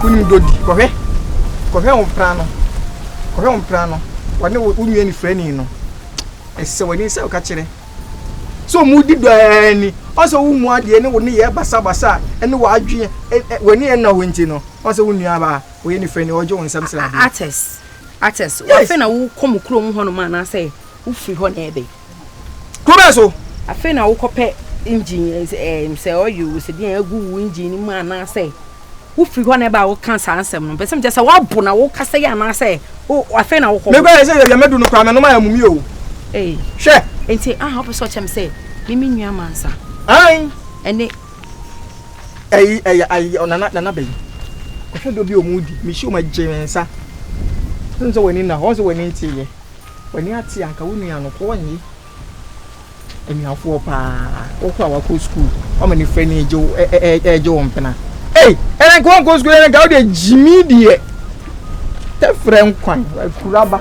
wonim dodi kɔhwɛ kɔhwɛ wo mpra no kɔhwɛ wo mpra no wɔne wo nua ni frɛni no ɛsɛ wɔde nsɛ woka kyerɛ sɛ ɔmu di dɔɛ ni ɔsɛ wo mu adeɛ ne wo ne yɛ basabasa ɛne w'adweɛ wɔne yɛ nna hɔ nti no ɔsɛ wo nua baa wɔyɛ ne fɛ ni ɔgye wɔn nsɛm sradeɛ. artist artist afei na wokɔ mu kurom hɔnom anaasɛ wofiri hɔ na ɛbɛ. kuro bɛɛ so. afei na wokɔpɛ engine eh, eh, sɛ ɔyɛ o sɛ deɛ agu wo engine no mu anaasɛ wofiri hɔ na ɛbɛ a woka saa nsɛm no bɛsɛm kyɛ sɛ woabo na wokasa yi anaasɛ afei na wokɔ. mekɔ yɛ sɛ yɛwia mɛdu no koraa mɛnom ayɛ mumi o. Eh. hwɛ. nti aha wopɛ sɛ ɔkyɛm sɛ mimi nua mansa. ɛne Ɛyi ɛyɛ ayi ɔnana nana bɛyi. Kɔhwɛ dɔ bi ɔmo di. Mehyia ɔmo agye me nsa. Wosɛ sɛ w'ani nna hɔ wosɛ w'ani nte yɛ. W'ani ate anka wo nua no kɔɔ nye anuafoɔ paa wɔkɔ a wakɔ school ɔmo ne fɛ ni egye ɛɛgye wɔn pena. Ei ɛnɛ nka wɔn kɔ school ɛnɛ nka wode gyimi deɛ. Tɛfrɛ nkwan akuraba.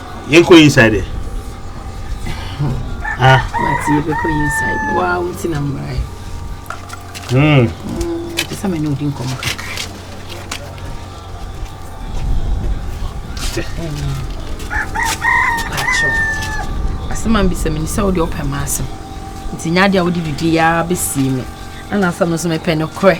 Yɛnkɔ inside ɛ. Ah. Wati yɛbɛkɔ inside. Waa wuti na mmara ɛ. Hmm. Ɛsɛ sɛ me ne odi nkɔmmɔ kakra. Asɛm a mbisa me ni sɛ wode ɔpɛ ma asɛm. Nti nya adeɛ a wode didi yɛ ara bɛsie me. Ɛna asɛm no so mepɛ no korɛ.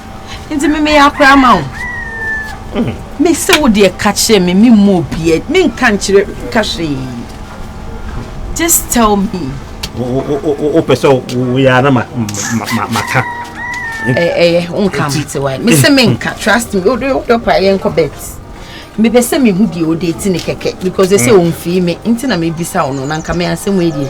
nti me meyɛ akora ma wo mm. me se wo deɛ ka kyerɛ me memmɔ obiɛ menka nkyerɛ ka hwee just tell me wopɛ sɛ woyɛ ana maka ɛyɛ wonka mate wae me se menka trust me wode wodɔ paa yɛnkɔ bet mepɛ sɛ mehu deɛ wode ti ne kɛkɛ because ɛsɛ ɔmfii mm. me nti na mebisa wo no na nka me asɛm ɛdeɛ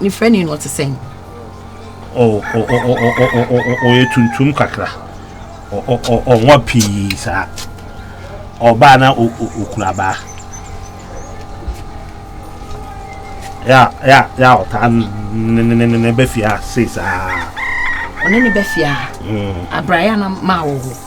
Ne frɛni no ɔte sɛn? Ɔyɛ tuntum kakra. Ɔnwa pii saa. Ɔbaa na okura abaa. Ya ya ya ɔtaa ne ne ne ne bɛfia sei saa. Ɔne ne bɛfia. Abraya na maa wɔ hɔ.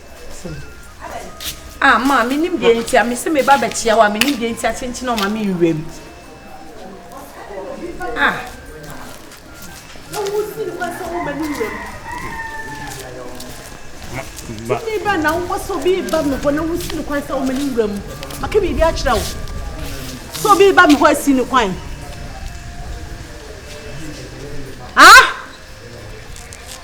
Ah ma me nim deɛ nti a me se me ba bɛkyia wo a me nim deɛ nti a kyenkyen a ɔma me nwura mu. Ah. Na wo si no kwan sɛ wo ma no nwura mu. Ba. Me ba na wo sɛ obi ba me hɔ na wo si no kwan sɛ wo ma no nwura mu. Maka biribi akyerɛ wo. Sɛ obi ba me hɔ asi no kwan. Ah.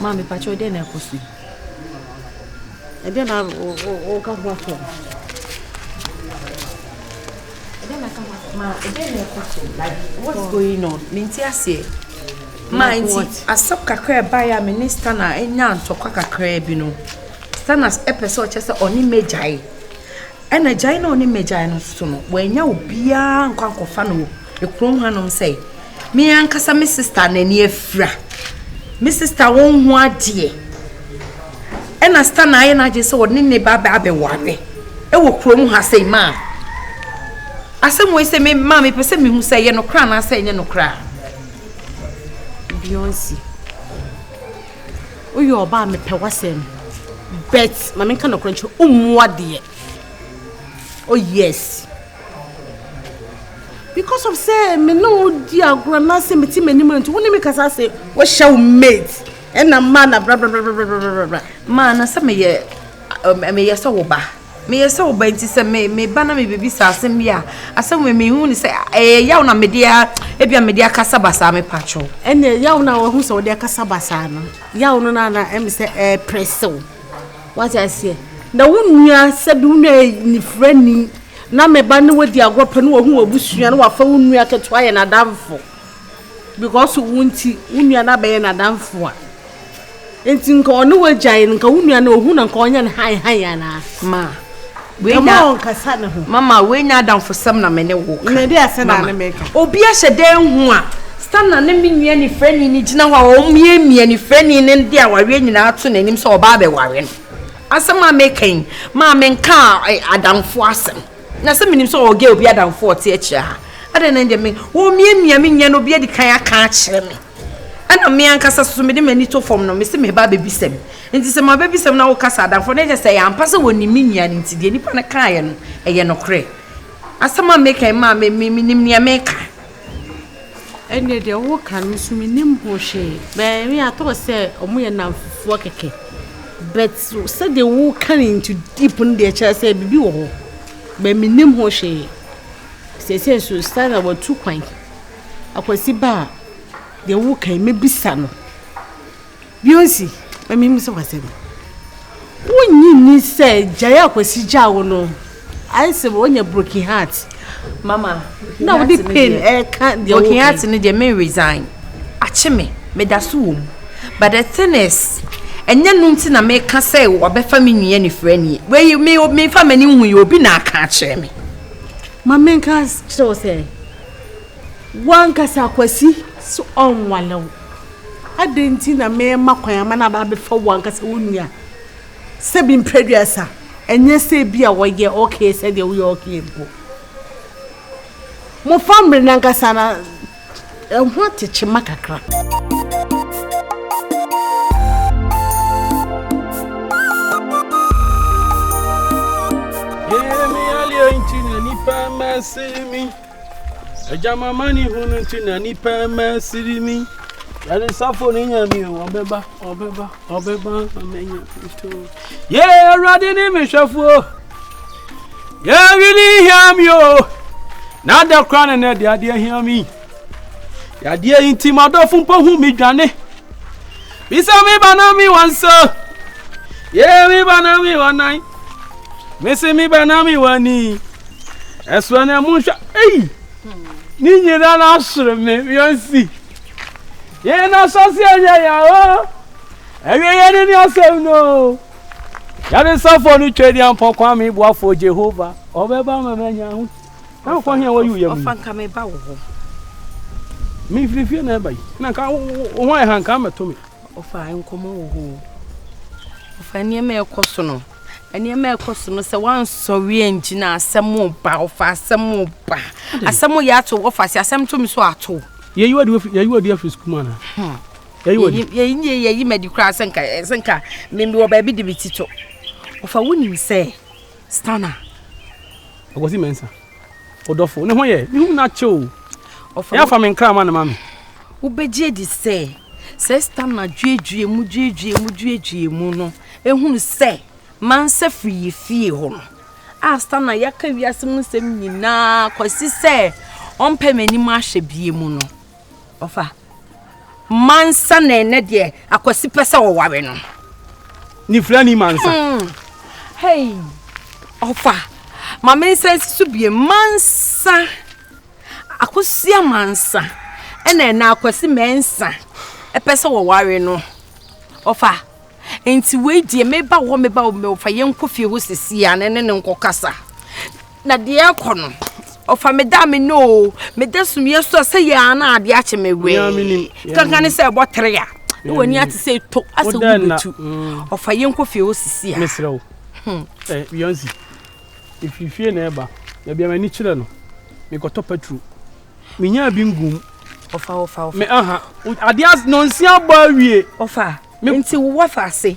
Maa me pakyɛw dɛn na ɛkɔ so yi? Ɛdɛn na woka ho ato no? Ɛdɛn na ka ho ato? Ma ɛdɛn na ɛkɔ so? Like what's going on? Mente aseɛ. Ma nti asɛm kakra ɛbaeɛ a me ne Stana anya ntɔkwa kakra bi no. Stana ɛpɛ sɛ ɔkyɛ sɛ ɔne magyae. Ɛna gyae na ɔne magyae no so no, wanya obiara nkɔ ankɔfa no kurom hanom sɛ me ankasa me sista n'ani afira me sista wo ho adeɛ ɛna sista na ayɛ n'agye sɛ ɔne ne ba bɛ abɛware ɛwɔ kurom ha sɛ maa asɛm wei sɛ me maa mepɛ sɛ mehu sɛ ɛyɛ nokora anaasɛ ɛnyɛ nokora bionsi woyɛ ɔba a mepɛ w'asɛm bet ma menka nokora nkyerɛ wommoa deɛ oh yes because of sɛ me ne wo di agorɔ na sɛ mete m'anim nti wo ne me kasa se wohyɛ wo mate ɛna mmaa na brabrabrabrabrabra maa na sɛ meyɛ meyɛ sɛ wo ba meyɛ sɛ wo ba nti sɛ me me ba na me biribi sɛ asɛm bi a asɛm wɔ mehu ne sɛ ɛyɛ yaw na mede a ebia mede akasa basaa me patwo ɛne yaw na wahu sɛ wode akasa basaa no yaw no na na ɛme sɛ ɛpere sew Wate aseɛ? Na wo nua, sɛbi wo nua yɛ nifirani, na me ba ne wo adi agorɔ pɛ, na wahu w'abusua, na wafa wo nua ketewa ayɛ n'adamfo, because wo nti, wo nua no abɛyɛ n'adamfo a, nti nka ɔne wo agyae no, nka wo nua no, ohu no a, nka ɔnyɛ no hann hann anaa? Ma. Wenya mama wenya adamfosɛm na me ne wo ka. Mede ase na ne me ka. Obi ahyɛ dan hu a Stanna ne me nua ne frɛni ne gyina hɔ a wɔn mie mie ne frɛni ne de awareɛ nyinaa ato n'anim sɛ ɔbaa bɛware no. Asɛm a me kan maa me nka adamfo asɛm. Na sɛ menim sɛ ɔgɛ obi adamfo ɔte akyire ha. Adɛn na ɛdeɛ me wɔn mie mie me nua no obi adi kan aka akyerɛ me. Ɛna me ankasa soso mede m'ani to fam no me se meba bɛbisa bi. Enti sɛ m'abɛbisa mu na wo kasa adamfoɔ na kyerɛ sɛ ɛyɛ ampa sɛ wɔnim me nua no nti deɛ nipa no kaeɛ no ɛyɛ nokorɛ asɛm a meka yi maa me me menim nea meka. Ɛnneɛ deɛ woka no nso menim ho hwee but me I thought sɛ wɔn yɛ nnamfofoɔ kɛkɛ but sɛdeɛ woka no into deep no deɛ ɛkyerɛ sɛ biribi wɔ hɔ but menim ho hwee seesei nso Stella watu kwan akwasi ba a deɛ woka yi mɛbisa no Bio nso, ma mimmisa wo asɛm. Wunnye nni sɛ gyae a Kwasi gyaa wo no, ayɛ sɛ woanya broken heart? Mama, na wode pain ɛka deɛ woka. Broken heart no deɛ me resign. Akye me, meda so wɔ mu. But the thing is, ɛnyɛ no nti na meka sɛ wɔbɛfa me nua nifirani. Wei, me, memfa m'ani nhu yi, obi na aka akyerɛ me. Ma menka kyerɛ wo sɛ, wankasa Kwasi so ɔnwale wo. Adɛn nti na merema kwan ama no aba abɛfa wo ankasa wo nua? Sɛbi mpɛ duasa, ɛnyɛ sɛ bi a wɔyɛ okay sɛdeɛ woyɛ okay mpo. Mofa mmere no ankasa na ɛho atekyema kakra. Agya mamani hunu nti na nipa mma siri mi. Yɛde safo ne nya mi o, ɔbɛba, ɔbɛba, ɔbɛba amenya nto. Yɛ awurade ne me hwɛfoɔ. Yɛ wini hia mi o. Na ada kora ne nɛ de adeɛ hia mi. Yadeɛ yi nti ma dɔfo mpo hu mi dwane. Bisa mi ba na mi wansa. Yeye mi ba na mi wanan. Mese mi ba na mi wani. Ɛsoɛ na mu nhwɛ. Ei! Ne nyina na asere me wiansi. Yeye na asase ɛnyɛ ya o. Ɛwie yɛ ne ne asɛm no. Yɛde safo no twɛ di ampɔkwa mi boafo Jehova. Ɔbɛba ma manya ahotu. na wokɔ hea wɔyi woyɛ mu ɔfa nka me ba wɔ hɔ mefiri fie na ɛba yi na nka wo ho ayɛ ha nka mɛto me ɔfa nkɔmmɔ wɔ hɔ ɔfa nneɛma ɛkɔ so no nneɛma ɛkɔ so no sɛ wansɔre angyina asɛm ba ɔfa asɛm ba asɛm yɛ ato ɔfa sɛ asɛm to me so ato yɛyi wadi afiri sukuu mu anaa hmm. yɛyi yɛyi madi koraa sɛ nka sɛ nka mewɔ baabi de me ti to ɔfa wonim sɛ Stana, Akwasi Mensah, wo dɔfo, ne ho yɛ, me hu no akyɛ o, yɛn afa me nkra ma ne ma me. Wobɛgye adi sɛ, sɛ Stana duadua mu duadua mu duadua mu no, ɛhunu sɛ Mansa firi yɛ fie hɔ no, a Stana yɛaka wiase mu nsɛm nyinaa kɔsi sɛ ɔmpɛ m'anim ahwɛ bie mu no, Ɔfa. Mansa na ɛnɛ deɛ akwasi pɛ sɛ ɔware no. Nifra ni mansa. Hmm. Hey, ɔfa. Ma me nsa nsi so bie mansa. Akosia mansa. Ɛna ɛna akwasi mɛnsa. Ɛpɛ sɛ wɔware no. Ɔfa. Nti wei deɛ meba hɔ meba hɔ mɛfa yɛnkɔ fie hɔ sisi a ne ne nkɔ kasa. Na deɛ ɛrekɔ no, ɔfa me da a me nɔ o, me da sumiiɛ so a sɛ yɛ ara na adeɛ akye me wee. Kankan ne sɛ ɛbɔ tere a, na w'ani ate sɛ eto asɛ wo bɛtu. Mm. Ɔfa yɛn kɔ fie hɔ sisi a. Mesrɛ wo. Hmm. Ɛ eh, Beyonce, ɛfiri fie na ɛba, na bia m'ani kyerɛ no, mekɔtɔ patro. Menyaa bi ngum. Ɔfa, ɔfa, ɔfa. Me aha, adeɛ nɔnsia bɔ awie. Ɔfa, nti wowɔ fa ase.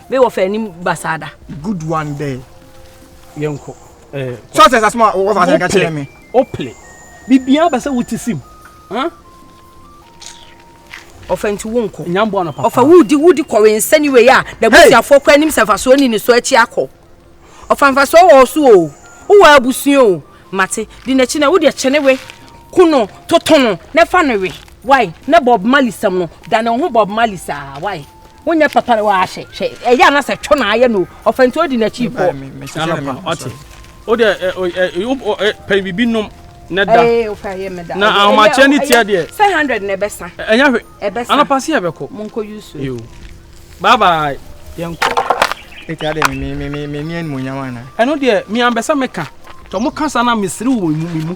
Me wɔfa anim basaa da. Good one there. Yɛnkɔ. Eh, so sɛ sasoma wɔfa sɛ ka kyerɛ me. Ople. Bibia ba sɛ wote sim. Huh? ɔfa nti wo nkɔ nyamboa no papa ɔfa wudi wudi kɔ wensa ni wei a na busuafoɔ kɔ anim sɛ mfasoɔ ni ne so akyi akɔ ɔfa mfasoɔ wɔ so o wowɔ abusua o mate di n'akyi na wode kyɛne we ku no toto no na fa no we wai na bob mali sɛm no da ne ho bob mali saa wai wonyɛ papa na wahyɛ hwɛ ɛyɛ a na sɛ twɛ na ayɛ no ɔfɛ nti odi n'akyi kɔ. ɔte o deɛ pɛ biribi nom na da na ahomakyɛ ne tia deɛ. sɛ hundred na ɛbɛ san. ɛnya hwɛ ɛbɛ san anapa se ɛbɛ kɔ. mo nkɔ yusu. yoo bye bye yɛn kɔ. eti adɛ mi mi mi mi mi ni ɛnumonyam ana. ɛno deɛ mi anbɛsɛ mi ka. Tɔ mo kasa na mesere wɔ me mu.